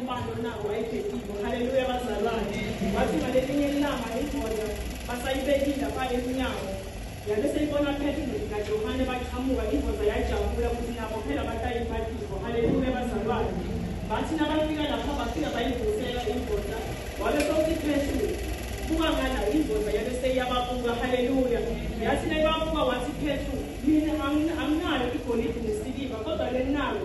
Ubani onako wayebhekile. Haleluya bazalwane. Wathi ngalelinye ilanga ingoda basayibekile apha emnyango. Yabe seyibona Petro naJohane baqhamuka ingoda yajabula ukuthi nabo phela batayibhatizo. Haleluya bazalwane. Bathi nabafika lapha bafika bayivusela ingoda. Wabe sokuthi Petro buka ngala ingoda yabe seyababuka. Haleluya. Yathi nayibabuka wathi Petro mina anginayo igolide nesiliva kodwa lenalo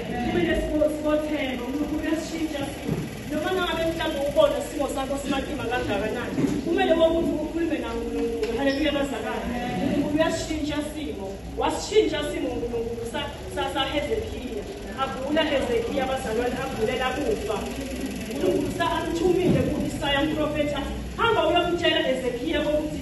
Kube nesibotheko, uNkulunkulu uyasishintsha simo. Noma ngabe mhlawumbe ubona isimo sakho simatima kangakanani, kumele wonke umuntu ukhulume naNkulunkulu. Haleluya bazalwane. uNkulunkulu uyasishintsha simo. Wasishintsha simo uNkulunkulu saHezekiya. Agula Hezekiya bazalwane, agulela kufa. uNkulunkulu amthumile ku-Isaya umprofethi athi, hamba uyomtshela Hezekiya ukuthi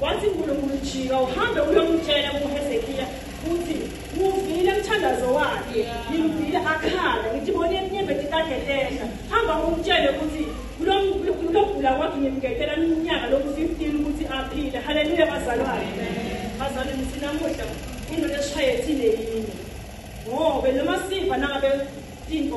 Wathi uNkulunkulu, Jika uhambe uyomtshela uHezekiya ukuthi ngivile umthandazo wakhe, ngimvile akhala, ngithi bona inyembeti kade lehla. Hamba umtshele ukuthi kulokugula kwakhe ngimgedela iminyaka loku 15 ukuthi aphile. Haleluya bazalwane. Bazalwane ngithi namuhla indoda esishaye thile yini. Ngoba noma siva nangabe tintfo